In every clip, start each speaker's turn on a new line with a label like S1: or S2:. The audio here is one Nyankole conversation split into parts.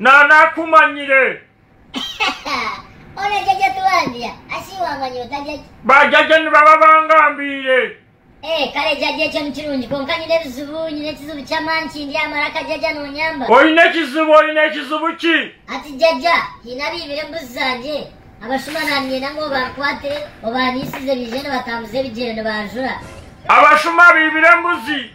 S1: Nanaakumanyire.
S2: Ona eki eky'otuhambira, asi waamanyire otarya ki? Bajajye nibaba
S1: bangambiire. Ee, kare
S2: jajye ekyo ni kirungi. Kwonka nyine ebizibu, nyine ekizibu ky'amaani kindya aha maraka jajya noonyamba. Oine ekizibu?
S1: Oine ekizibu ki? Ati, Jajya,
S2: haine abaibire embuzi zangye. Abashuma naaniinyenda ngu obankwate, obaaniisize baije nibatambuza ebigyere nibanjura. Abashuma
S1: abaibire embuzi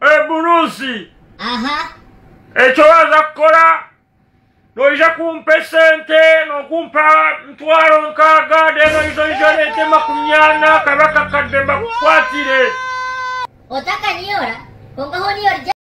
S1: eburuusi.
S2: Eki
S1: oraaza kukora, noija kumpa esente, nookumpa mitwaro nkaaga, reero oije oije oreete makumi ana kabe
S2: akakadde mbakukwatire.